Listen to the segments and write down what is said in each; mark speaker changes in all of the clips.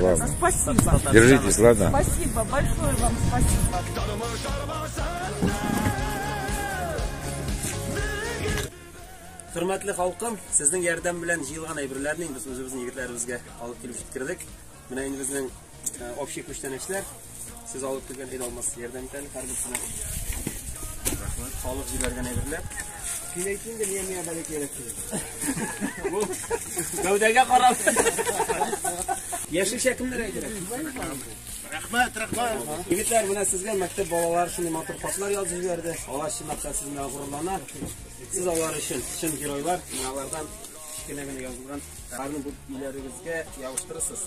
Speaker 1: Ладно. Спасибо. Держитесь, ладно? Спасибо, большое вам спасибо. Хөрмәтле халкым, сезнең ярдәм белән җыелган әйберләрне без үзебезнең егетләребезгә алып килеп җиткердек. Менә инде безнең общий күчтәнәчләр. Сез алып килгән ит алмас ярдәм итәле һәрберсенә. Рәхмәт. Халык җибәргән әйберләр. Син әйт инде, миңа миңа бәләк кирәк. Гәүдәгә карап. Яшелчә кемнәргә кирәк? Рәхмәт, рәхмәт. Егетләр, менә сезгә мәктәп балалары шундый матур хатлар язып җибәрде. Алар чынлап та сезне горурлана. Сез алар өчен чын геройлар. Менә алардан кечкенә генә язылган. Аларны бу иләрегезгә ябыштырырсыз.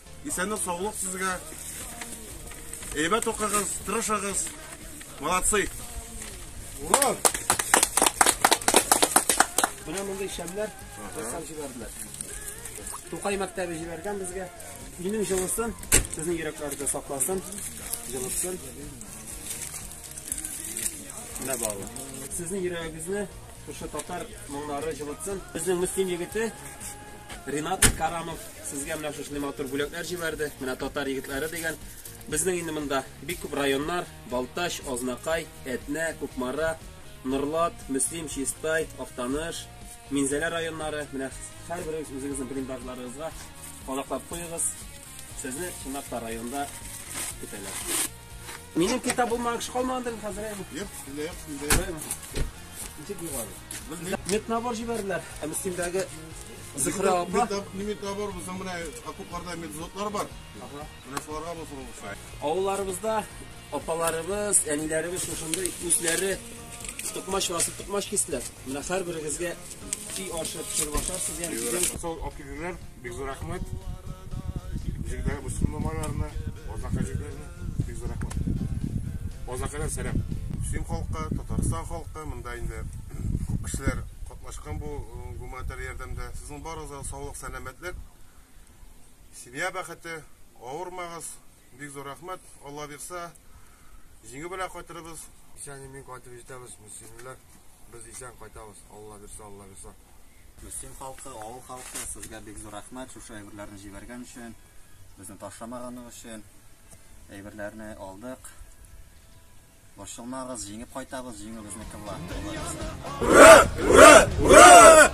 Speaker 1: Исәнлек саулык сезгә. Әйбәт укыгыз, тырышыгыз. Молодцы. Ура! Менә мондый шәмнәр ясап җибәрделәр. Тукай мәктәбе җибәргән безгә. Минем җылысын, сезнең йөрәкләрдә сакласын, җылысын. Менә барлык. Сезнең йөрәгегезне Шушы татар моңнары җылытсын. Безнең Мөслим егете Ринат Карамов сезгә менә шушы матур бүләкләр җибәрде. Менә татар егетләре дигән. Безнең инде монда бик күп районнар, Балтач, Азнакай, Әтнә, Кукмара, Норлат, Мөслим, Чистай, Актаныш, Минзәлә районнары. Менә һәрберегез үзегезнең блиндажларыгызга кадаклап куегыз. Сезне чынлапта районда көтәләр. Минем китап булмаган кеше калмагандыр хәзер әйме? Юк, синдә юк, синдә юк. Ничек югары? Меднабор җибәрделәр. Ә Мөслимдәге Зөһрә апа. Меднабор булса менә окопларда медзотлар бар. Ага. Менә шуларга булсын булса. Авылларыбызда апаларыбыз, әниләребез шушындый үзләре токмач басып токмач кистеләр. Менә һәрберегезгә Чи ашы пешереп ашарсыз ям. Сау оптимизмнар, бик зур рәхмәт. Җирдә бүсен номерларны, озак әҗибләрне, бик зур рәхмәт. Озакәләр сәлам. Син халкы, Татарстан халкы, монда инде күп кешеләр катнашкан бу э, гуманитар ярдәмдә. Сезнең барыгызга саулык, сәламәтлек, семья бәхете, авырмагыз, Бик зур рәхмәт, Алла бирсә, җиңү белән кайтырбыз. Исән имин кайтып җитәбез, мөслимләр. Без исән кайтабыз, Алла бирсә, Алла бирсә. Мөслим халкы, авыл халкы, сезгә бик зур рәхмәт, шушы әйберләрне җибәргән өчен, безне ташламаганың өчен. Әйберләрне алдык. Борчылмагыз, җиңеп кайтабыз, җиңү безнеке була. Ура! Ура! Ура!